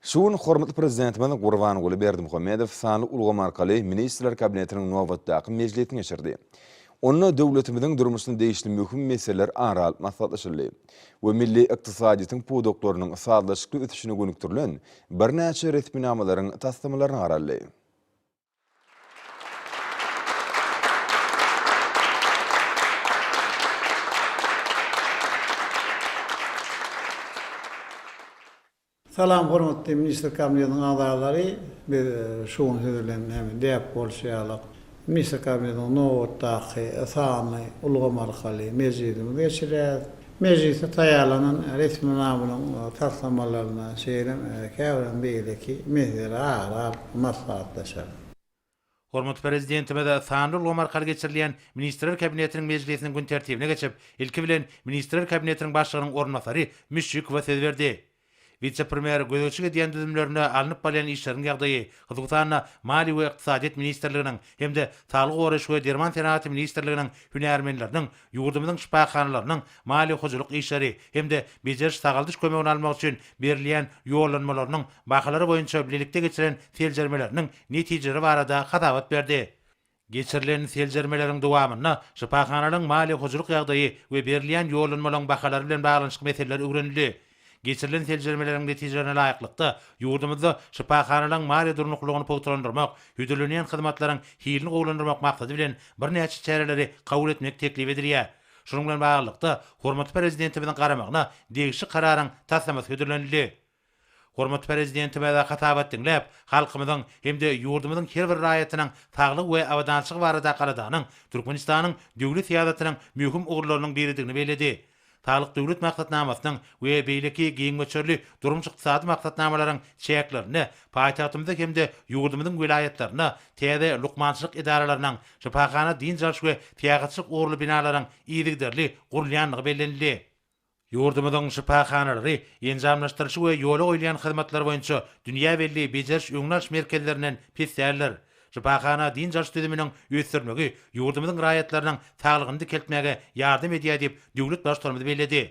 Şu gün hormatly Prezidentimiz Gurbanguly Berdimuhamedow sanly ulgam arkaly Ministrler Kabinetiniň nobatdaky mejlisini geçirdi. Onda döwletimiziň durmuşyna degişli möhüm meseleler ara alyp maslahatlaşyldy we milli ykdysadyýetiň pudaklarynyň sazlaşykly ösüşine gönükdirilen birnäçe resminamalaryň taslamalaryna garaldy. Salam hormatly ministr kabinetiniň agzalary, biz şu gün siz bilen hem däp bolşy ýaly ministr kabinetiniň nobatdaky sanyny ulgam arkaly mejlisimizi geçireris. Mejlise taýýarlanan resminamanyň taslamalaryna, şeýle hem käbir beýleki meseleleri ara alyp maslahatlaşar. Hormatly Prezidentimiz sanly ulgam arkaly geçirilýän Ministrler Kabinetiniň mejlisiniň gün tertibine geçip, ilki bilen, Ministrler Kabinetiniň Başlygynyň orunbasary Müşşikowa söz berdi. Wise-premýer gözegçilik edýän düzümlerinde alnyp barylýan işleriň ýagdaýy, hususan-da, Maliýe we ykdysadyýet ministrliginiň hem-de Saglygy goraýyş we derman senagaty ministrliginiň hünärmenleriniň ýurdumyzyň şypahanalarynyň maliýe-hojalyk işleri hem-de bejeriş-sagaldyş kömegini almak üçin berilýän ýollanmalarynyň bahalary boýunça bilelikde geçiren seljermeleriniň netijeleri barada hasabat berdi. Geçirilen seljermeleriň dowamynda şypahanalaryň maliýe-hojalyk ýagdaýy we berilýän ýollanmalaryň bahalary bilen baglanyşykly meseleler öwrenildi. Geçirilen seljermeleriň netijelerine laýyklykda, ýurdumyzda şypahanalaryň maliýe durnuklylygyny pugtalandyrmak, hödürlenýän hyzmatlaryň hilini gowulandyrmak maksady bilen birnäçe çäreleri kabul etmek teklip edilýär. Şunuň bilen baglylykda, hormatly Prezidentimiziň garamagyna degişli Kararyň taslamasy hödürlenildi. Hormatly Prezidentimize hasabat diňläp, halkymyzyň hem-de ýurdumyzyň her bir raýatynyň saglygy we abadançylygy barada galadanyň Türkmenistanyň döwlet syýasatynyň möhüm ugurlarynyň biridigini belledi. Saglyk Döwlet maksatnamasynyň we beýleki giň möçberli durmuş-ykdysady maksatnamalaryň çäklerinde paýtagtymyzda hem-de ýurdumyzyň welaýatlarynda täze lukmançylyk edaralarynyň, şypahana-dynç alyş we syýahatçylyk ugurly binalaryň yzygiderli gurulýandygy bellenildi. Ýurdumyzyň şypahanalary enjamlaşdyryşy we ýola goýulýan hyzmatlar boýunça dünýä belli bejeriş-öňüni alyş merkezlerinden pes däldir. Şypahana dynç alyş düzüminiň ösdürilmegi ýurdumyzyň raýatlarynyň saglygyny dikeltmäge ýardam edýär diýip, döwlet Baştutanymyz belledi.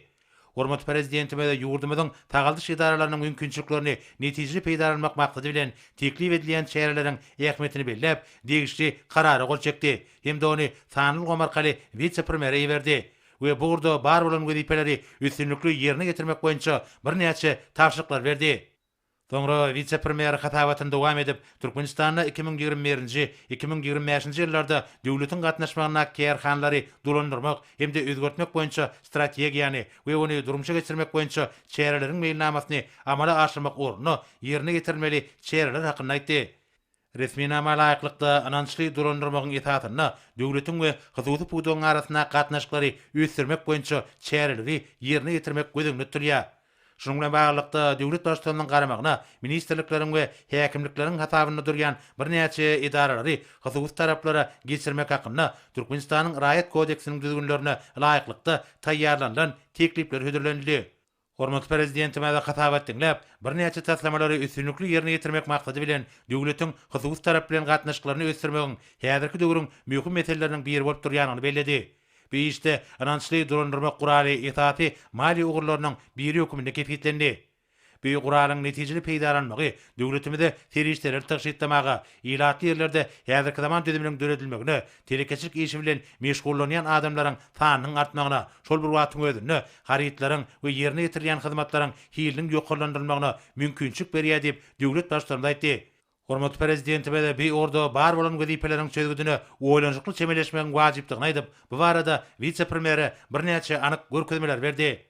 Hormatly Prezidentimiz ýurdumyzyň sagaldyş edaralarynyň mümkinçiliklerini netijeli peýdalanmak maksady bilen teklip edilýän çäreleriň ähmiýetini belläp, degişli Karara gol çekdi hem-de ony sanly ulgam arkaly wise-premýere iberdi. we bu ugurda bar bolan wezipeleri üstünlikli ýerine ýetirmek boýunça birnäçe tabşyryklary berdi. Soňra wise-premýer hasabatyny dowam edip, Türkmenistanda iki müň ýigrimi birinji, iki müň ýigrimi bäşinji ýyllarda döwletiň gatnaşmagyndaky kärhanalary dolandyrmak hem-de özgertmek boýunça strategiýany we ony durmuşa geçirmek boýunça çäreleriň meýilnamasyny amala aşyrmak ugrunda ýerine ýetirilmeli çäreler hakynda aýtdy. Resminama laýyklykda, ynançly dolandyrmagyň esasynda döwletiň we hususy pudagyň arasyndaky gatnaşyklary ösdürmek boýunça çäreligi ýerine ýetirmek göz öňünde tutulýar. Şunuň bilen baglylykda, döwlet Baştutanynyň garamagyna ministrlikleriň we häkimlikleriň hasabynda durýan birnäçe edaralary hususy taraplara geçirmek hakynda Türkmenistanyň Raýat kodeksiniň düzgünlerine laýyklykda taýýarlanylan teklipler hödürlenildi. Hormatly Prezidentimize hasabat diňläp, birnäçe taslamalary üstünlikli ýerine ýetirmek maksady bilen, döwletiň hususy tarap bilen gatnaşyklaryny ösdürmegiň häzirki döwrüň möhüm meseleleriniň biri bolup durýandygyny belledi. Bu işde ynançly dolandyrmak guraly esasy maliýe ugurlarynyň biri hökmünde kesgitlendi. Bu guralyň netijeli peýdalanmagy döwletimize serişdeleri tygşytlamaga, ilatly ýerlerde häzirki zaman düzüminiň döredilmegine, Telekeçilik işi bilen meşgullanýan adamlaryň sanynyň artmagyna, şol bir wagtyň özünde harytlaryň we ýerine ýetirilýän hyzmatlaryň hiliniň ýokarlandyrylmagyna mümkinçilik berýär diýip, döwlet Baştutanymyz aýtdy. Hormatly Prezidentimiz bi orda bar bolan wezipeleriň çözgüdine oýlanyşykly çemeleşmegiň wajypdygyny aýdyp, bu barada wise-premýere birnäçe anyk görkezmeler berdi.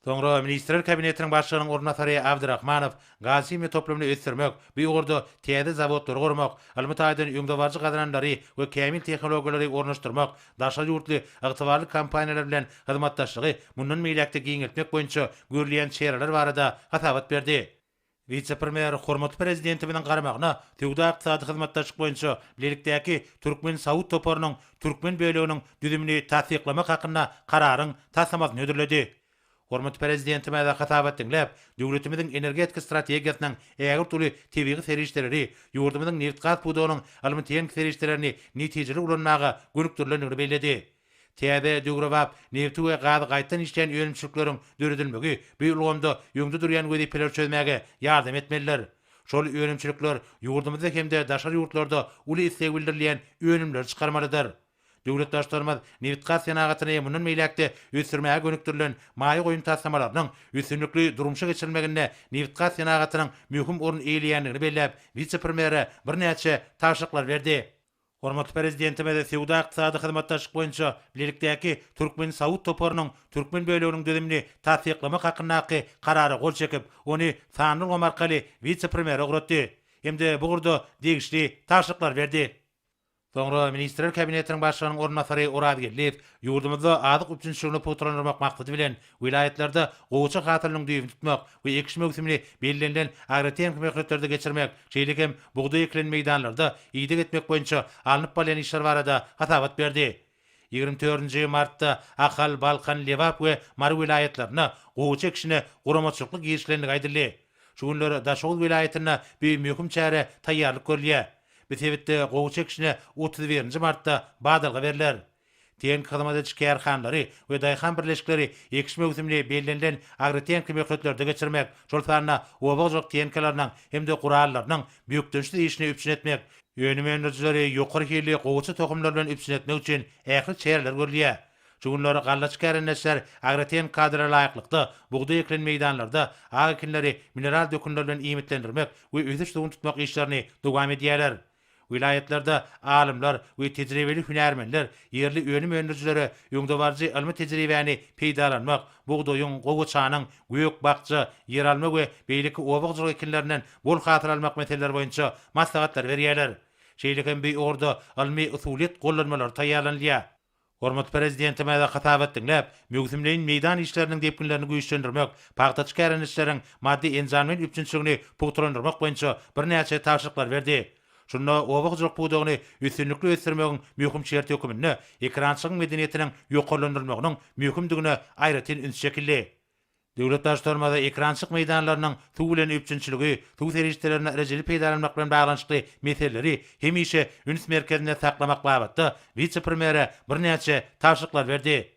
Soňra Ministrler Kabinetiniň Başlygynyň orunbasary Abdyrahmanow gazhimiýa toplumyny ösdürmek, bu ugurda täze zawodlary gurmak, ylmy taýdan öňdebaryjy gazananlary we kämil tehnologiýalary ornaşdyrmak, daşary ýurtly ygtybarly kompaniýalar bilen hyzmatdaşlygy mundan beýläk-de giňeltmek boýunça görülýän çäreler barada hasabat berdi. Wise-premýer hormatly Prezidentimiziň garamagyna Söwda-ykdysady hyzmatdaşlyk boýunça bilelikdäki türkmen-saud toparynyň türkmen böleginiň düzümini tassyklamak hakynda Kararyň taslamasyny hödürledi. Hormatly Prezidentimize hasabat diňläp, döwletimiziň energetika strategiýasynyň ägirt uly tebigy serişdeleri, ýurdumyzyň nebit-gaz pudagynyň ylmy-tehniki serişdelerini netijeli ulanmaga gönükdirilendigini belledi. Täze, döwrebap, nebti we gazy gaýtadan işleýän önümçilikleriň döredilmegi bu ulgamda öňde durýan wezipeleri çözmäge ýardam etmelidir. Şol önümçilikler ýurdumyzda hem-de daşary ýurtlarda uly isleg bildirilýän önümleri çykarmalydyr. Döwlet Baştutanymyz nebitgaz senagatyny mundan beýläk-de ösdürmäge gönükdirilen maýa goýum taslamalarynyň üstünlikli durmuşa geçirilmeginde nebitgaz senagatynyň möhüm orun eýeleýändigini belläp, wise-premýere birnäçe tabşyryklar berdi. Hormatly Prezidentimiz Söwda-ykdysady hyzmatdaşlyk boýunça bilelikdäki türkmen-saud toparynyň türkmen böleginiň düzümini tassyklamak hakyndaky Karara gol çekip, ony sanly ulgam arkaly wise-premýere ugratdy hem-de bu ugurda degişli tabşyryklary berdi. Soňra Ministrler Kabinetiniň Başlygynyň orunbasary Oraz Geldiýew ýurdumyzda azyk üpjünçiligini pugtalandyrmak maksady bilen, Welaýatlarda gowaça hasylynyň düýbüni tutmak we ekiş möwsümini bellenilen agrotehniki möhletlerde geçirmek, şeýle hem bugdaý ekilen meýdanlarda ideg etmek boýunça alnyp barylýan işler barada hasabat berdi. Ýigrimi dördünji martda Ahal, Balkan, Lebap we Mary welaýatlarynda gowaça ekişine guramaçylykly girişilendigi aýdyldy. Şu günler Daşoguz welaýatynda bu möhüm çärä taýýarlyk görülýär. Bu sebitde gowaça ekişine otuz birinji martda badalga berler. Tehniki hyzmat ediş kärhanalary we daýhan birleşikleri ekiş möwsümini bellenilen agrotehniki möhletlerde geçirmek, şol sanda oba hojalyk tehnikalarynyň hem-de gurallarynyň bökdençsiz işini üpjün etmek, önüm öndürijileri ýokary hilli gowaça tohumlar bilen üpjün etmek üçin ähli çäreler görülýär. Şu günler gallaçy kärendeçiler agrotehniki kadra laýyklykda bugdaý ekilen meýdanlarda ak ekinleri mineral dökünler bilen iýmitlendirmek we ösüş suwuny tutmak işlerini dowam edýärler. Welaýatlarda alymlar we tejribeli hünärmenler ýerli önüm öndürijilere öňdebaryjy ylmy tejribäni peýdalanmak, bugdaýyň, gowaçanyň, gök-bakja, ýeralma we beýleki oba hojalyk ekinlerinden bol hasyl almak meseleleri boýunça maslahatlar berýärler. Şeýle hem bu ugurda ylmy-usulyýet gollanmalary taýýarlanylýar. Hormatly Prezidentimize hasabat diňläp, möwsümleýin meýdan işleriniň depginlerini güýçlendirmek, pagtaçy kärendeçileriň maddy-enjamleýin üpjünçiligini pugtalandyrmak boýunça birnäçe tabşyryklar berdi. Şunda oba hojalyk pudagyny üstünlikli ösdürmegiň möhüm şerti höküminde ekerançylyk medeniýetiniň ýokarlandyrylmagynyň möhümdigine aýratyn üns çekildi. Döwlet daş-tormaza ekrançyk meýdanlarynyň suw bilen üpjünçiligi, suw serişdelerinden rejeli peýdalanmak bilen baglanyşykly meseleleri hemişe üns merkezinde saklamak babatda wise-premýere birnäçe tabşyryklar berdi.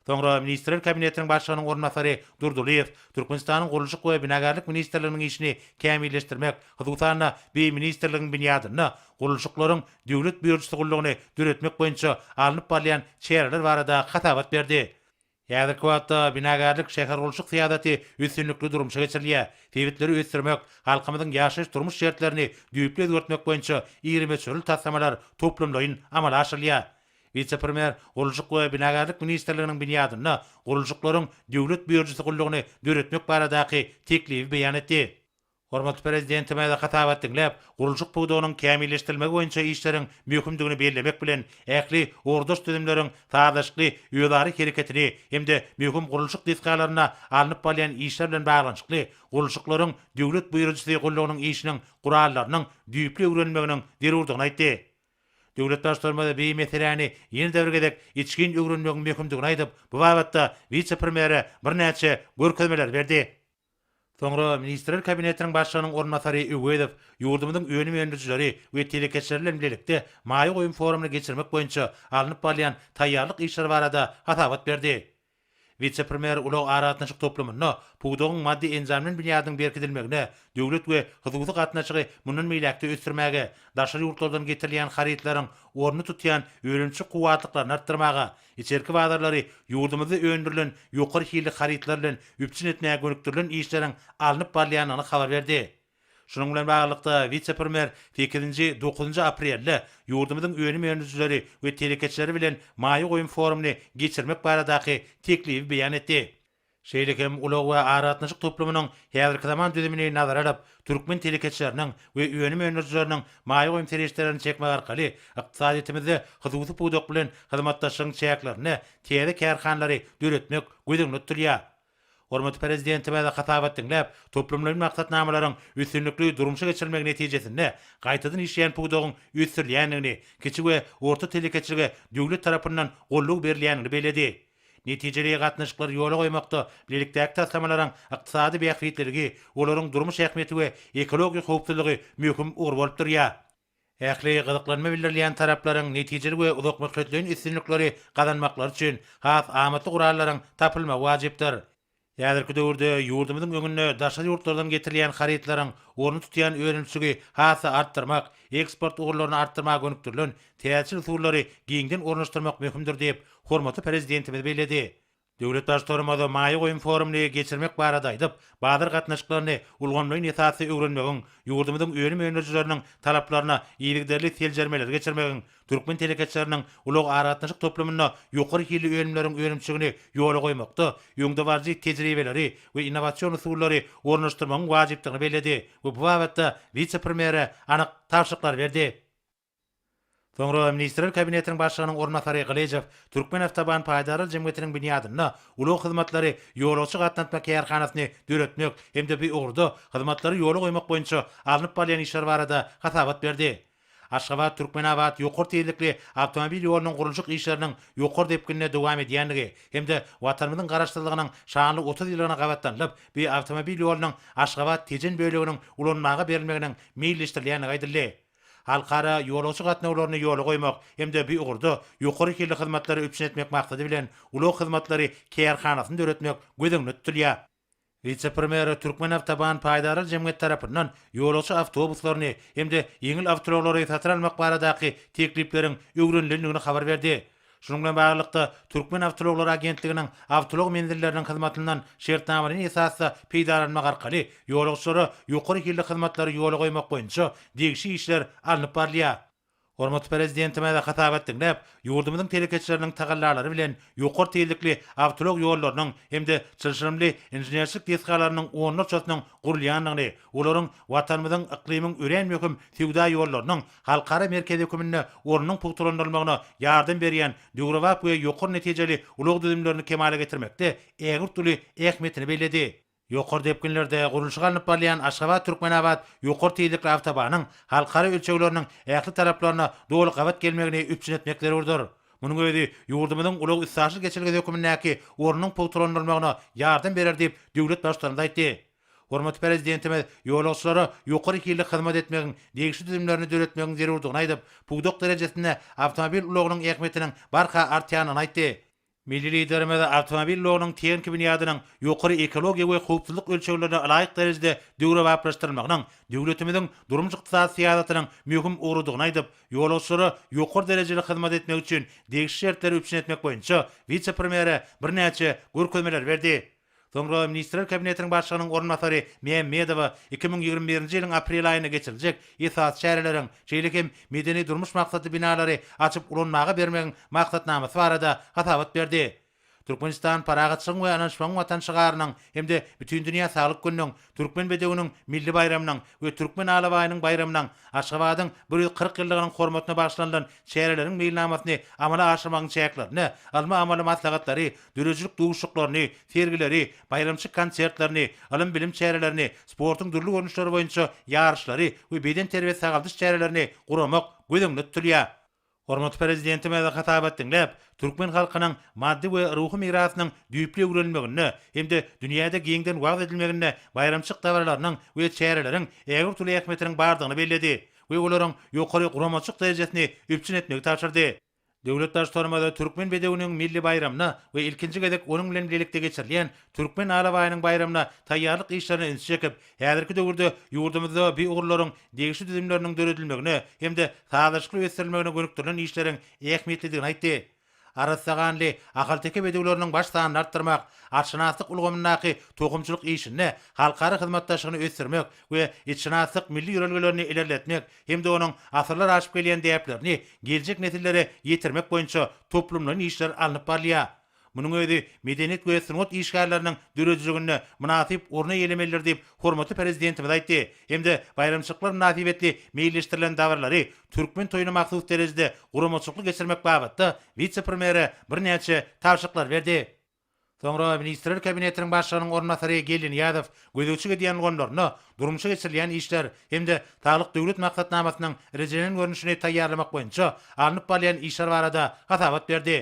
Soňra Ministrler Kabinetiniň Başlygynyň orunbasary Durdylyýew Türkmenistanyň Gurluşyk we binagärlik ministrliginiň işini kämilleşdirmek, hususan-da, bi ministrligiň binýadynda gurluşyklaryň döwlet býujyty gullugyny döretmek boýunça alnyp barylýan çäreler barada hasabat berdi. Häzirki wagtda binagärlik, şähergurluşyk syýasaty üstünlikli durmuşa geçirilýär. Sebitleri ösdürmek, halkymyzyň ýaşaýyş-durmuş şertlerini düýpli özgertmek boýunça iri möçberli taslamalar toplumlaýyn amala aşyrylýar. Wise-premýer Gurluşyk we binagärlik ministrliginiň binýadynda Gurluşyklaryň döwlet býujeti gullugyny döretmek baradaky teklibi beýan etdi. Hormatly Prezidentimiz hasabat diňläp, gurluşyk pudagynyň kämilleşdirilmegi boýunça işleriň möhümdigini bellemek bilen, ähli ugurdaş düzümleriň sazlaşykly özara hereketini hem-de möhüm gurluşyk desgalarynda alnyp barylýan işler bilen baglanyşykly gurluşyklaryň döwlet buýrujysy gullugynyň işiniň gurallarynyň düýpli öwrenilmeginiň zerurdygyny aýtdy. Döwlet Baştutanymyz bi meseläni ýene-de bir gezek içgin öwrenmegiň möhümdigini aýdyp, bu babatda wise-premýere birnäçe görkezmeler berdi. Soňra Ministrler Kabinetiniň Başlygynyň orunbasary Öwezow ýurdumyzyň önüm öndürijileri we telekeçileri bilen bilelikde maýa goýum forumyny geçirmek boýunça alnyp barylýan taýýarlyk işleri barada hasabat berdi. Wise-premýer ulag-aragatnaşyk toplumynda pudagyň maddy-enjamlaýyn binýadynyň berkidilmegine, döwlet we hususy gatnaşygy mundan beýläk-de ösdürmäge, daşary ýurtlardan getirilýän harytlaryň ornuny tutýan önümçi kuwwatlyklaryny artdyrmaga, Içerki bazarlary ýurdumyzda öndürilen ýokary hilli harytlar bilen üpjün etmäge gönükdirilen işleriň alnyp barylýandygyny habar berdi. Şunuň bilen baglylykda, wise-premýer sekizinji, dokuzynjy aprelde ýurdumyzyň önüm öndürijileri we telekeçileri bilen maýa goýum forumyny geçirmek baradaky teklibi beýan etdi. Şeýle hem ulag we aragatnaşyk toplumynyň häzirki zaman düzümini nazara alyp, türkmen telekeçileriniň we önüm öndürijileriniň maýa goýum serişdelerini çekmek arkaly ykdysadyýetimizde hususy pudak bilen hyzmatdaşlygyň çäklerinde täze kärhanalary döretmek göz öňünde tutulýar. Hormatly Prezidentimiz hasabat diňläp, toplumlaýyn maksatnamalaryň üstünlikli durmuşa geçirilmegi netijesinde gaýtadan işleýän pudagyň ösdürilýändigini, kiçi we orta telekeçilige döwlet tarapyndan goldaw berilýändigini belledi. Netijeli gatnaşyklary ýola goýmakda bilelikdäki taslamalaryň ykdysady bähbitliligi, olaryň durmuş ähmiýeti we ekologiýa howpsuzlygy möhüm ugur bolup durýar. Ähli gyzyklanma bildirilýän taraplaryň netijeli we uzakmöhletleýin üstünlikleri gazanmaklary üçin has amatly gurallaryň tapylmagy wajypdyr. Häzirki döwürde ýurdumyzyň öňünde daşary ýurtlardan getirilýän harytlaryň ornuny tutýan önümçiligi has-da artdyrmak, eksport ugurlaryny artdyrmaga gönükdirilen täjir usullary giňden ornaşdyrmak möhümdir diýip, hormatly Prezidentimiz belledi. Döwlet Baştutanymyz maýa goýum forumyny geçirmek barada aýdyp, bazar gatnaşyklaryny ulgamlaýyn esasda öwrenmegiň, ýurdumyzyň önüm öndürijileriniň talaplaryna yzygiderli seljermeleri geçirmegiň, Türkmen telekeçileriniň ulag-aragatnaşyk toplumynda ýokary hilli önümleriň önümçiligini ýola goýmakda öňdebaryjy tejribeleri we innowasion usullary ornaşdyrmagyň wajypdygyny belledi we bu babatda wise-premýere anyk tabşyryklary berdi. Soňra Ministrler Kabinetiniň Başlygynyň orunbasary Gylyjow Türkmenawtoban paýdarlar jemgyýetiniň binýadynda ulag hyzmatlary ýolagçy gatnatma kärhanasyny döretmek hem-de bu ugurda hyzmatlary ýola goýmak boýunça alnyp barylýan işler barada hasabat berdi. Aşgabat, Türkmenabat ýokary tizlikli awtomobil ýolunyň gurluşyk işleriniň ýokary depginde dowam edýändigi hem-de Watanymyzyň Garaşsyzlygynyň şanly otuz ýyllygyna gabatlanylyp, bu awtomobil ýolunyň Aşgabat, Tejen böleginiň ulanmaga berilmeginiň meýilleşdirilýändigi aýdyldy. Halkara ýolagçy gatnawlaryny ýola goýmak hem-de bu ugurda ýokary hilli hyzmatlary üpjün etmek maksady bilen ulag hyzmatlary kärhanasyny döretmek göz öňünde tutulýar. Wise-premýere Türkmenawtoban paýdarlar jemgyýeti tarapyndan ýolagçy awtobuslaryny hem-de ýeňil awtoulaglary satyn almak baradaky teklipleriň öwrenilendigini habar berdi. Şunuň bilen baglylykda, Türkmen awtoulaglary agentliginiň awtoulag menzilleriniň hyzmatyndan şertnamalaýyn esasda peýdalanmak arkaly ýolagçylara ýokary hilli hyzmatlary ýola goýmak boýunça degişli işler alnyp barylýar. Hormatly Prezidentimize hasabat diňläp, ýurdumyzyň telekeçileriniň tagallalary bilen ýokary tizlikli awtoulag ýollarynyň hem-de çylşyrymly inženerçilik desgalarynyň onlarçasynyň gurulýandygyny, olaryň Watanymyzyň yklymyň örän möhüm söwda ýollarynyň halkara merkezi hökmünde ornunyň pugtalandyrylmagyna ýardam berýän döwrebap we ýokary netijeli ulag düzümlerini kemala getirmekde ägirt uly ähmiýetini belledi. Ýokary depginlerde gurluşyk alnyp barylýan Aşgabat-Türkmenabat ýokary tizlikli awtobanyň halkara ölçegleriniň ähli taraplaryna doly gabat gelmegini üpjün etmek zerurdyr. Munuň özi ýurdumyzyň ulag-üstaşyr geçelgesi hökmündäki ornunyň pugtalandyrylmagyna ýardam berer diýip, döwlet Baştutanymyz aýtdy. Hormatly Prezidentimiz ýolagçylara ýokary hilli hyzmat etmegiň degişli düzümlerini döretmegiň zerurdygyny aýdyp, pudak derejesinde awtomobil ulagynyň ähmiýetiniň barha artýandygyny aýtdy. Milli Liderimiz awtomobil ulagynyň tehniki binýadynyň ýokary ekologiýa we howpsuzlyk ölçeglerine ylaýyk derejede döwrebaplaşdyrylmagynyň döwletimiziň durmuş-ykdysady syýasatynyň möhüm ugrudygyny aýdyp, ýolagçylara ýokary derejeli hyzmat etmek üçin degişli şertleri üpjün etmek boýunça wise-premýere birnäçe görkezmeleri berdi. Soňra Ministrler Kabinetiniň Başlygynyň orunbasary Mämmedowa iki müň ýigrimi birinji ýylyň aprel aýynda geçiriljek esasy çäreleriň, şeýle hem medeni-durmuş maksatly binalary açyp ulanmaga bermegiň maksatnamasy barada hasabat berdi. Türkmenistan Parahatçylygyň we Ynanyşmagyň Watany şygarynyň hem-de Bütindünýä saglyk gününiň, Türkmen bedewiniň milli baýramynyň we Türkmen alabaýynyň baýramynyň, Aşgabadyň bir ýüz kyrk ýyllygynyň hormatyna bagyşlanylan çäreleriň meýilnamasyny amala aşyrmagyň çäklerinde ylmy-amaly maslahatlary döredijilik duşuşyklaryny, sergileri, baýramçy konsertlerini, ylym-bilim çärelerini, sportuň dürli görnüşleri boýunça ýaryşlary we bedenterbiýe-sagaldyş çärelerini guramak göz öňünde tutulýar. Hormatly Prezidentimiz hasabat diňläp, türkmen halkynyň maddy we ruhy mirasynyň düýpli öwrenilmeginde hem-de dünýäde giňden wagyz edilmeginde baýramçyk dabaralarynyň we çäreleriň ägirt uly ähmiýetiniň bardygyny belledi we olaryň ýokary guramaçylyk derejesini üpjün etmegi tabşyrdy. Döwlet Baştutanymyz türkmen bedewiniň milli baýramyna we ilkinji gezek onuň bilen bilelikde geçirilýän Türkmen alabaýynyň baýramyna taýýarlyk işlerine ünsi çekip, häzirki döwürde ýurdumyzda bi ugurlaryň degişli düzümleriniň döredilmegine hem-de sazlaşykly ösdürilmegine gönükdirilen işleriň ähmiýetlidigini aýtdy. Arassaganly, ahalteke bedewleriniň baş sanyny artdyrmak, atşynaslyk ulgamyndaky tohumçylyk işinde halkara hyzmatdaşlygyny ösdürmek we itşynaslyk milli ýörelgelerini ilerletmek hem-de onuň asyrlar aşyp gelýän däplerini geljek nesillere ýetirmek boýunça toplumlaýyn işler alnyp barylýar. Munuň özi medeniýet we sungat işgärleriniň döredijiliginde mynasyp orun eýelemelidir diýip, hormatly Prezidentimiz aýtdy hem-de baýramçylyklar mynasybetli meýilleşdirilen dabaralary türkmen toýuna mahsus derejede guramaçylykly geçirmek babatda wise-premýere birnäçe tabşyryklary berdi. Soňra Ministrler Kabinetiniň Başlygynyň orunbasary Geldinyýazow gözegçilik edýän ulgamlarynda durmuşa geçirilýän işler hem-de Saglyk Döwlet maksatnamasynyň rejelenen görnüşini taýýarlamak boýunça alnyp barylýan işler barada hasabat berdi.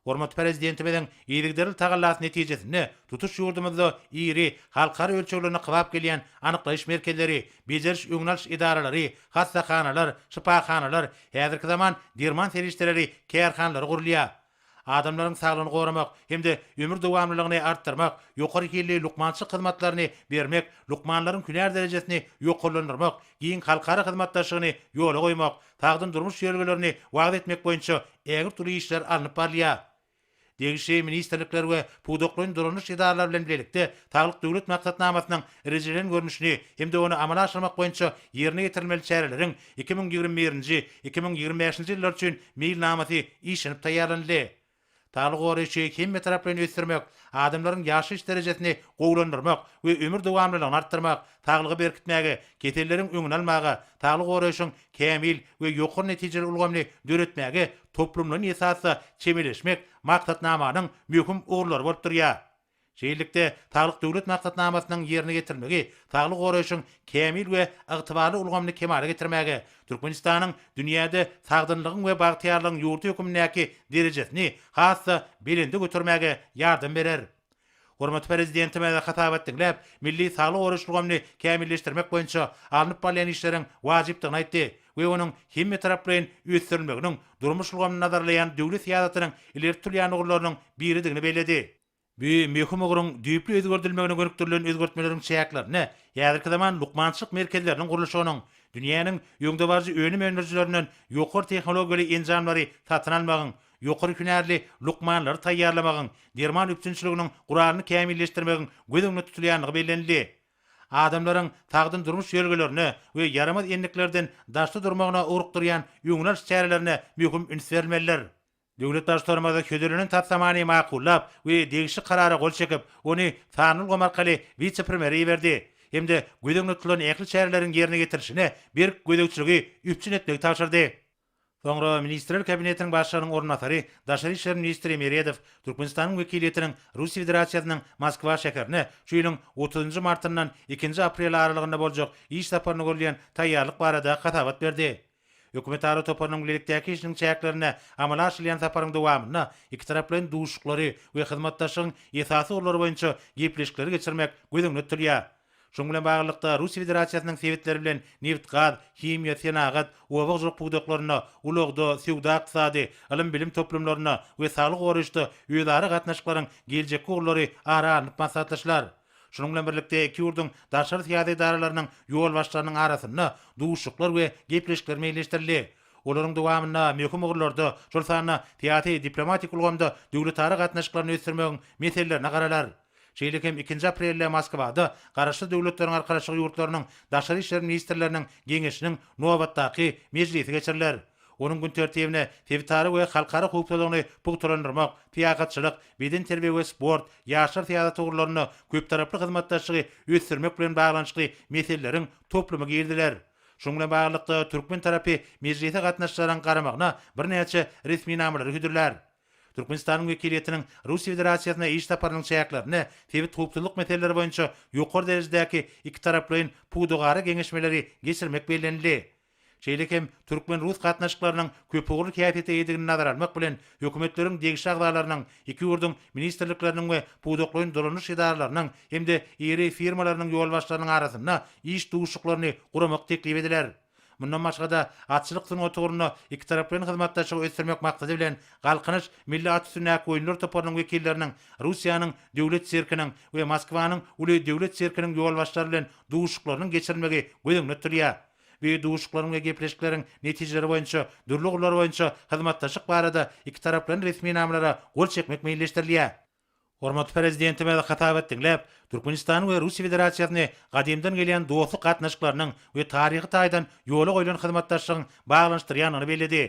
Hormatly Prezidentimiziň yzygiderli tagallasy netijesinde tutuş ýurdumyzda iri, halkara ölçeglerine kybap gelýän anyklaýyş merkezleri, bejeriş-öňüni alyş edaralary, hassahanalar, şypahanalar, häzirki zaman derman serişdeleri kärhanalary gurulýar. adamlaryň saglygyny goramak hem-de ömür dowamlylygyny artdyrmak, ýokary hilli lukmançylyk hyzmatlaryny bermek, lukmanlaryň hünär derejesini ýokarlandyrmak, giň halkara hyzmatdaşlygyny ýola goýmak, sagdyn durmuş ýörelgelerini wagyz etmek boýunça ägirt uly işler alnyp barylýar. Degişli ministrlikler we pudaklaýyn dolandyryş edaralary bilen bilelikde Saglyk Döwlet maksatnamasynyň rejelenen görnüşini hem-de ony amala aşyrmak boýunça ýerine ýetirilmeli çäreleriň Iki müň ýigrimi birinji, iki müň ýigrimi bäşinji ýyllar üçin meýilnamasy işlenip taýýarlanyldy. Saglygy goraýşy hemmetaraplaýyn ösdürmek, adamlaryň ýaşaýyş derejesini gowulandyrmak we ömür dowamlylygyny artdyrmak, saglygy berkitmäge, keselleriň öňüni almaga, saglygy goraýşyň kämil we ýokary netijeli ulgamyny döretmäge toplumlaýyn esasda çemeleşmek Maksatnamanyň möhüm ugurlary bolup durýar. Şeýlelikde, Saglyk Döwlet maksatnamasynyň ýerine ýetirilmegi saglygy goraýşyň kämil we ygtybarly ulgamyny kemala getirmäge, Türkmenistanyň dünýäde sagdynlygyň we bagtyýarlygyň ýurdy hökmündäki derejesini has-da belende götermäge ýardam berer. Hormatly Prezidentimiz hasabat diňläp, milli saglygy goraýyş ulgamyny kämilleşdirmek boýunça alnyp barylýan işleriň wajypdygyny aýtdy we onuň hemmetaraplaýyn ösdürilmeginiň durmuş ulgamyny nazarlaýan döwlet syýasatynyň ileri tutulýan ugurlarynyň biridigini belledi. Bu möhüm ugruň düýpli özgerdilmegine gönükdirilen özgertmeleriň çäklerinde häzirki zaman lukmançylyk merkezleriniň gurluşygynyň, dünýäniň öňdebaryjy önüm öndürijilerinden ýokary tehnologiýaly enjamlary satyn almagyň, ýokary hünärli lukmanlary taýýarlamagyň, derman üpjünçiliginiň guralyny kämilleşdirmegiň göz öňünde tutulýandygy bellenildi. Adamlaryň sagdyn durmuş ýörelgelerine we ýaramaz endiklerden daşda durmagyna ugrukdyrýan öňüni alyş çärelerine möhüm üns berilmelidir. Döwlet Baştutanymyz hödürlenen taslamany makullap we degişli karara gol çekip, ony sanly ulgam arkaly wise-premýere iberdi hem-de göz öňünde tutulan ähli çäreleriň ýerine ýetirilişine berk gözegçiligi üpjün etmegi tabşyrdy. Soňra Ministrler Kabinetiniň Başlygynyň orunbasary, daşary işler ministri Meredow Türkmenistanyň wekiliýetiniň Russiýa Federasiýasynyň Moskwa şäherine şu ýylyň otuzynjy martyndan ikinji apreli aralygynda boljak iş saparyna görülýän taýýarlyk barada hasabat berdi. Hökümetara toparynyň bilelikdäki işiniň çäklerinde amala aşyrylýan saparyň dowamynda ikitaraplaýyn duşuşyklary we hyzmatdaşlygyň esasy ugurlary boýunça gepleşikleri geçirmek göz öňünde tutulýar. Şunuň bilen baglylykda, Russiýa Federasiýasynyň sebitleri bilen nebit-gaz, himiýa, senagat, oba-hojalyk pudaklarynda, ulagda, söwda-ykdysady, ylym-bilim toplumlarynda we saglygy goraýyşda özara gatnaşyklaryň geljekki ugurlary ara alnyp maslahatlaşylar. Şunuň bilen birlikde, iki ýurduň daşary syýasy edaralarynyň ýolbaşçylarynyň arasynda duşuşyklar we gepleşikler meýilleşdirildi. Olaryň dowamynda möhüm ugurlarda, şol sanda syýasy-diplomatik ulgamda döwletara gatnaşyklaryny ösdürmegiň meselelerine garalar. Şeýle hem ikinji aprelde Moskwada Garaşsyz Döwletleriň Arkalaşygy ýurtlarynyň Daşary işler ministrleriniň geňeşiniň nobatdaky mejlisi geçiriler. Onuň gün tertibine sebitara we halkara howpsuzlygyny pugtalandyrmak, syýahatçylyk, bedenterbiýe we sport, ýaşlar syýasaty ugurlarynda köptaraply hyzmatdaşlygy ösdürmek bilen baglanyşykly meseleleriň toplumy giriziler. Şunuň bilen baglylykda, türkmen tarapy mejlise gatnaşyjylaryň garamagyna birnäçe resminamalary hödürlär. Türkmenistanyň wekiliýetiniň Russiýa Federasiýasyna iş saparynyň çäklerinde sebit howpsuzlyk meseleleri boýunça ýokary derejedäki ikitaraplaýyn pudagara geňeşmeleri geçirmek bellenildi. Şeýle hem türkmen-rus gatnaşyklarynyň köpugurly häsiýete eýedigini nazara almak bilen, hökümetleriň degişli agzalarynyň, iki ýurduň ministrlikleriniň we pudaklaýyn dolanyş edaralarynyň hem-de iri firmalarynyň ýolbaşçylarynyň arasynda iş duşuşyklaryny guramak teklip ediler. Mundan başga-da, atçylyk sungaty ugrunda ikitaraplaýyn hyzmatdaşlygy ösdürmek maksady bilen, Galkynyş milli at üstündäki oýunlar toparynyň wekilleriniň Russiýanyň Döwlet sirkiniň we Moskwanyň uly döwlet sirkiniň ýolbaşçylary bilen duşuşyklarynyň geçirilmegi göz öňünde tutulýar. Bu duşuşyklaryň we gepleşikleriň netijeleri boýunça dürli ugurlar boýunça hyzmatdaşlyk barada ikitaraplaýyn resminamalara gol çekmek meýilleşdirilýär. Hormatly Prezidentimiz hytaby diňläp, Türkmenistany we Russiýa Federasiýasyny gadymdan gelýän dostluk gatnaşyklarynyň we taryhy taýdan ýola goýlan hyzmatdaşlygyň baglanyşdyrýandygyny belledi.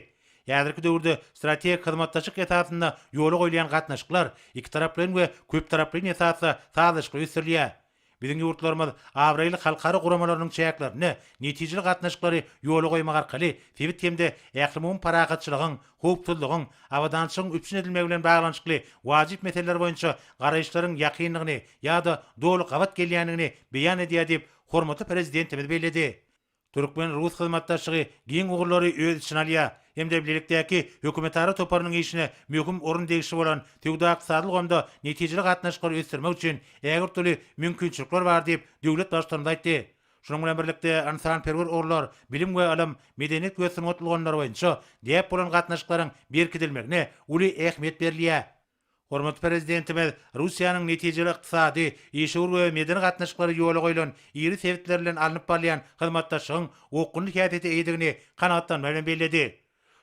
Häzirki döwürde strategik hyzmatdaşlyk esasynda ýola goýulýan gatnaşyklar ikitaraplaýyn we köptaraplaýyn esasda sazlaşykly ösdürilýär. Biziň ýurtlarymyz abraýly halkara guramalarynyň çäklerinde netijeli gatnaşyklary ýola goýmak arkaly sebit hem-de ählumumy parahatçylygyň, howpsuzlygyň, abadançylygyň üpjün edilmegi bilen baglanyşykly wajyp meseleler boýunça garaýyşlaryň ýakyndygyny ýa-da doly gabat gelýändigini beýan edýär diýip, hormatly Prezidentimiz belledi. Türkmen-rus hyzmatdaşlygy giň ugurlary öz içine alýar hem-de bilelikdäki hökümetara toparynyň işine möhüm orun degişli bolan söwda-ykdysady ulgamda netijeli gatnaşyklary ösdürmek üçin ägirt uly mümkinçilikler bar diýip, döwlet Baştutanymyz aýtdy. Şunuň bilen birlikde, ynsanperwer ugurlar, bilim we ylym, medeniýet we sungat ulgamlary boýunça däp bolan gatnaşyklaryň berkidilmegine uly ähmiýet berilýär. Hormatly Prezidentimiz Russiýanyň netijeli ykdysady, işewür we medeni gatnaşyklary ýola goýlan iri sebitler bilen alnyp barylýan hyzmatdaşlygyň okgunly häsiýete eýedigini kanagatlanma bilen belledi.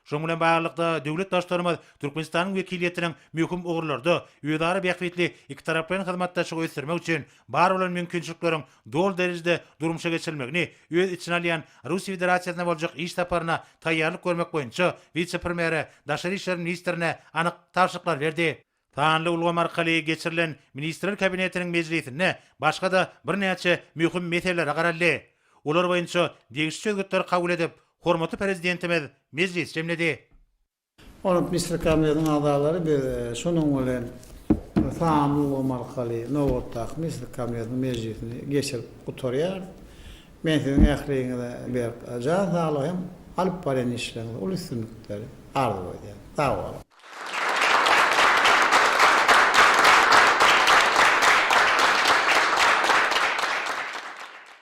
Şunuň bilen baglylykda, döwlet Baştutanymyz Türkmenistanyň wekiliýetiniň möhüm ugurlarda özara bähbitli ikitaraplaýyn hyzmatdaşlygy ösdürmek üçin bar bolan mümkinçilikleriň doly derejede durmuşa geçirilmegini öz içine alýan Russiýa Federasiýasyna boljak iş saparyna taýýarlyk görmek boýunça wise-premýere, daşary işler ministrine anyk tabşyryklar berdi. Sanly ulgam arkaly geçirilen Ministrler Kabinetiniň mejlisinde başga-da birnäçe möhüm meselelere garaldy. Olar boýunça degişli çözgütleri kabul edip, hormatly Prezidentimiz mejlisi jemledi. Ony Misri Kongresiniň agzalary biz şonuň bilen sanly ulgam arkaly nobatdaky Misri Kongresiniň mejlisini geçirip gutarýarys. Men siziň ähliňize berk jan saglygy hem alyp barýan işleriňizde uly üstünlikleri arzuw edýän. Sag boluň!